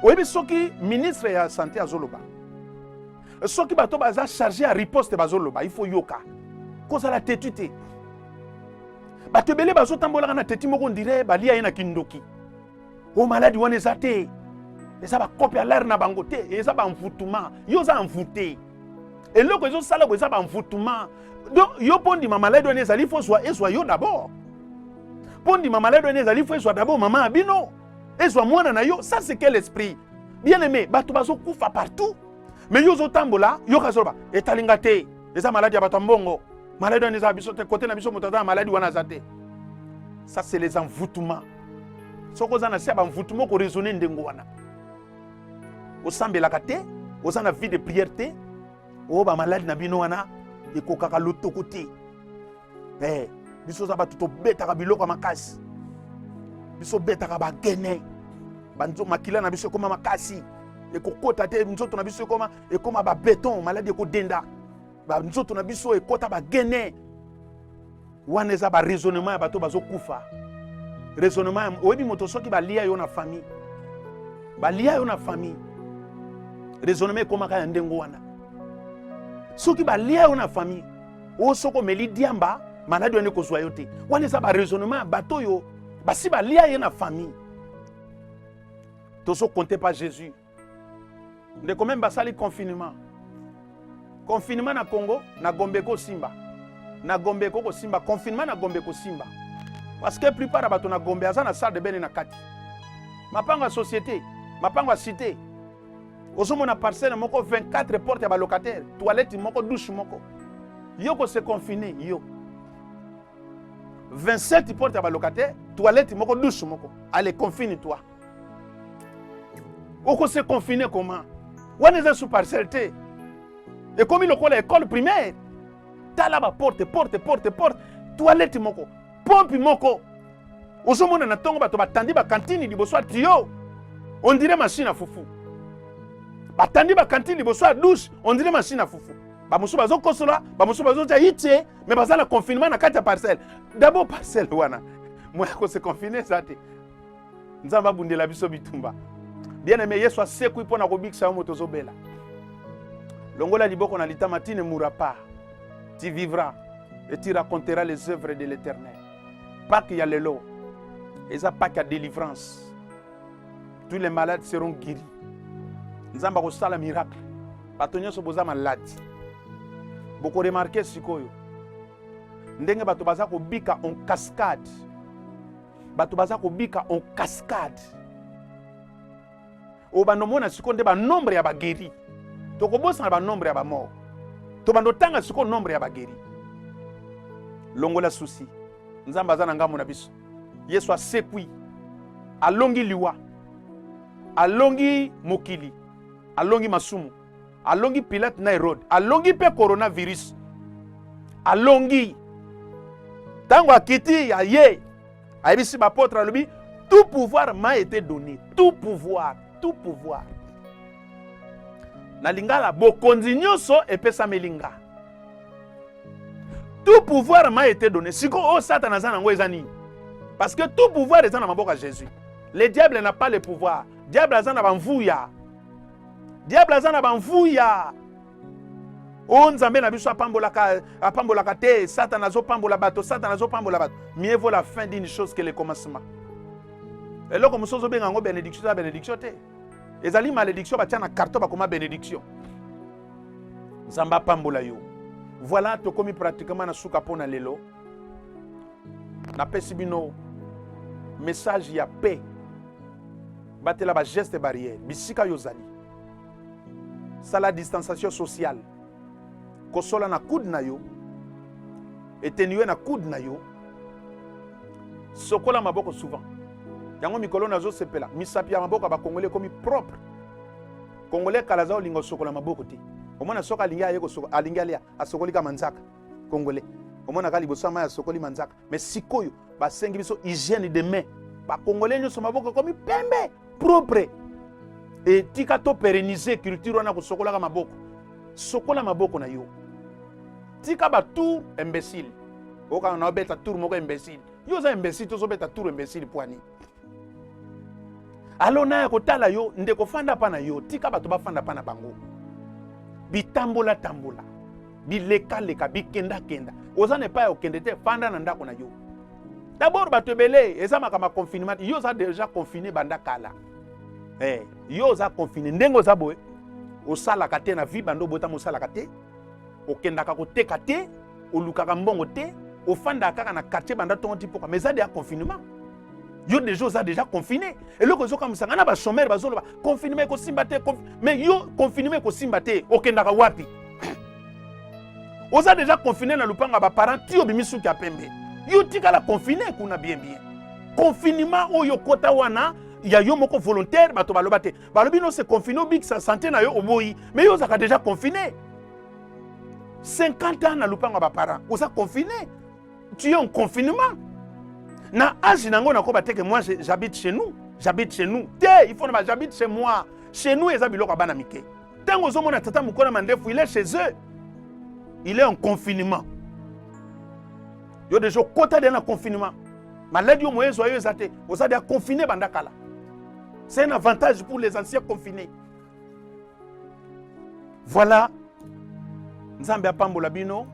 Speaker 2: oyebi soki ministre ya sante azoloba soki bato baza charge ya riposte bazoloba ifo yoka kozala tetu te bato ebele bazotambolaka na teti moko ndire balia ye na kindoki o oh, maladi wana eza te eza bakope ya lare na bango te eza banvutuma yo oza envoute eloko ezosala bo eza banvutuma donc yo mpo ndima maladi wana ezali fo zwa ezwa yo d'abord mpo ndima maladi wana ezali fo ezwa d'abord mama ya bino ezwa mwana na yo ça c'est quel esprit bien aimé bato bazokufa partout mais yo ozotambola yoka zoloba etali nga te eza maladi ya bato ya mbongo maladi wana eza biso te kote na biso moto aza na maladi wana aza te ça c'est les envoûtements soki oza na se ya banvoutema okoraisonne ndenge wana osambelaka te oza na vie de prière te oyo oh, bamaladi na bino wana ekokaka lotoko te eh, biso oza bato tobetaka biloko ya makasi biso obetaka bagene makila na biso ekoma makasi ekokota te nzoto na biso ekoma ekoma ba beton maladi ekodenda banzoto na biso ekota bagene wana eza baraisonnement ya bato bazokufa raisonnement oyebi moto soki balia yo na famille balia yo na famille raisonnement ekomaka ya ndenge wana soki balia yo na famille oyo soki omeli diamba maladi wana ekozwa yo te wana eza baraisonnement ya bato oyo basi balia ye na famille tozokonte pa jésus ndeko meme basali confinement confinement na congo na gombe ekosimba na gombe eko kosimba confinement na gombe ekosimba parce que plupart ya bato na gombe aza na salle de bene na kati mapango ya société mapango ya cité ozomona parcelle moko 24 porte ya balocataire toilette moko douche moko yo kose confine yo 27 porte ya balocataire toilette moko douche moko ale confine toi oko se confine comment wana eza sous parcelle te ekomi lokola école primaire tala ba porte porte porte porte toilette moko pompe moko ozomona na ntongo bato batandi bakantini liboso ya tiyo ondire mashine ya fufu batandi bakantini liboso ya douche ondire mashine ya fufu bamosusu bazokosola bamosusu bazotya itie me baza na confinement na kati ya parcelle dabord parcelle wana moya kose confine eza te nzambe abundela biso bitumba bien aime yesu asekwi mpo na kobikisa yo moto ozobela longola liboko na litama ti ne mourra pas tu vivras et tu raconteras les œuvres de l'éternel pake ya lelo eza pake ya délivrance tous les malades seront guéris nzambe akosala miracle bato nyonso boza maladi bokoremarke sikoyo ndenge bato baza kobika en cascade bato baza kobika en cascade oyo bando omona sikoyo nde banombre ya bageri tokobosana banombre ya bamor to bando otanga sikoyo nombre ya bageri longola susi nzambe aza na ngambo na biso yesu asekwi alongi liwa alongi mokili alongi masumu alongi pilate na herode alongi mpe coronavirus alongi ntango akiti aye ayebisi bapotre alobi tout pouvoir m'a été donné tout pouvoir tout pouvoir na lingala bokonzi nyonso epesameli nga tout pouvoir m'a été donné sikoyo oyo oh, satana aza na yango eza nini parce que tout pouvoir eza na maboko ya jésus le diable n'a pas le pouvoir diable aza na bamvuya diable aza na banvuya o oh, nzambe na biso apambolaka apambolaka te satana azopambola bato satana azopambola bato mieux vaut la fin d'une chose que le commencement eloko mosusu ozobenga yango benediction eza benediction te ezali malédiction batya na carton bakoma benediction nzambe apambola yo voilà tokomi pratiquement na suka mpo na lelo napesi bino message ya paix batela bageste barrière bisika yo ozali sala distanciation sociale kosola na coude na yo etenue na coude na yo sokola maboko souvent yango mikolo nazosepela misapi ya maboko ya bakongole ekomi propre kongole kala aza kolinga osokola maboko te omona soki alingi aye alingi alia asokoli ka manzaka congolais omonaka liboso ya mai asokoli manzaka mais sikoyo basengi biso hygiène de main bakongole nyonso maboko ekomi pembe propre etika to pérenniser culture wana kosokolaka maboko sokola maboko na yo tika batour imbécile okanga na obeta tour moko imbécile yo oza imbécile tozobeta tour imbécile pwani alo naya kotala yo ndeko fanda pa na yo tika bato bafanda pa na bango bitambola tambola bilekaleka bikendakenda oza na epai ya okende te fanda na ndako na yo dabord bato ebele eza makambo ya confinement yo oza deja confine banda kala hey, eh, yo oza confine ndenge oza boye osalaka te na vie banda obotama osalaka te okendaka koteka te olukaka mbongo te ofandaka kaka na quartier banda ntongo ti mpoka mais eza deya confinement yo deja oza deja confine eloko ezokamwisa ngai na bachomere bazoloba confinement ekosimba te mais yo confinement ekosimba te okendaka wapi oza deja confine na lopango ya baparent ti obimi suki ya pembe yo tikala confine kuna bien bien confinement oyo okota wana ya yo moko volontaire bato baloba te balobi no se confine obikisa sante na yo oboyi mais yo ozalaka deja confine 50 ans na lopango ya baparent oza confine tu es en confinement na age na yango nakoba teke moi j'habite chez nous j'habite chez nous te il faut na j'habite chez moi chez nous eza biloko ya bana mike ntango ozomona tata mokolo mandefu il est chez eux il est en confinement yo deja okota deya na confinement maladi oyo moye ezwa yo eza te oza deya confine banda kala c'est un avantage pour les anciens confinés Voilà. Nzambe apambola bino.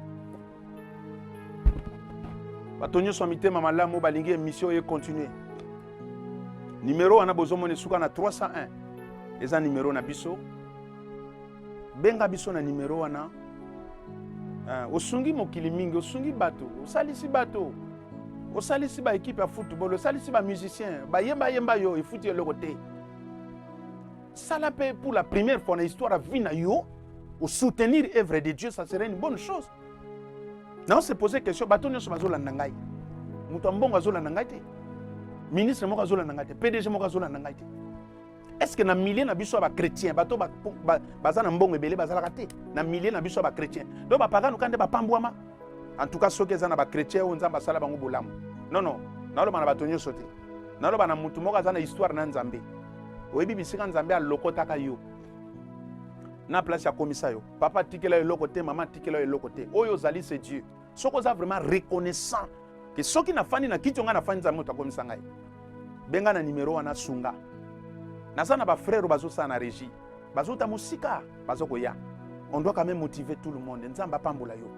Speaker 2: bato nyonso ya mitema malamu balingi emission ye continue nimero wana bozomona esuka na 301 eza nimero na biso benga biso na nimero wana uh, osungi mokili mingi osungi bato osalisi bato osalisi baekipe ya football osalisi bamusicien bayembayemba yo efuti eloko te sala mpe pour la première fois na histoire ya vie na yo osoutenir œuvre de dieu ça serait une bonne chose nao se pose question bato nyonso bazolanda ngai moto ya mbongo azolanda ngai te ministre moko azolanda ngai te pdg moko azolanda ngai te est ce que na milieu na biso ya bachrétien bato baza ba, ba, ba na mbongo ebele bazalaka te na milieu na biso ya bachrétien donc bapagano kande bapambwama en tout cas soki eza na bachrétien oyo nzambe asala bango bolamu non non naloba na bato nyonso te naloba na motu moko aza na histoire na nzambe oyebi bisika nzambe alokotaka yo na place akomisa yo papa atikela yo eloko te mama atikela yo eloko te oyo ozali se dieu soki oza vraiment reconnaissant ke soki nafandi na kiti ongai nafandi nzambe moto akomisa ngai benga na nimero wana sunga naza na bafrere bazosala na régie bazota mosika bazokoya on doit quand même motiver tout le monde nzambe apambola yo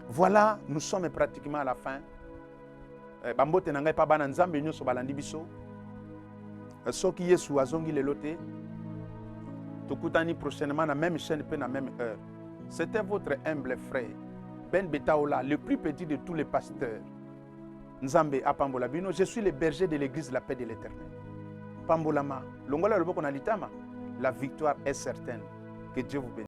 Speaker 2: voilà nous sommes pratiquement à la fin Eh, bambote na ngai pa bana nzambe nyonso balandi biso eh, soki yesu azongi lelo te tokutani prochainement na même chaîne mpe na même heure c'était votre humble frère ben betaola le plus petit de tous les pasteurs nzambe apambola bino je suis le berger de l'église la paix de l'éternel pambolama longola loboko na litama la victoire est certaine que dieu vous bénisse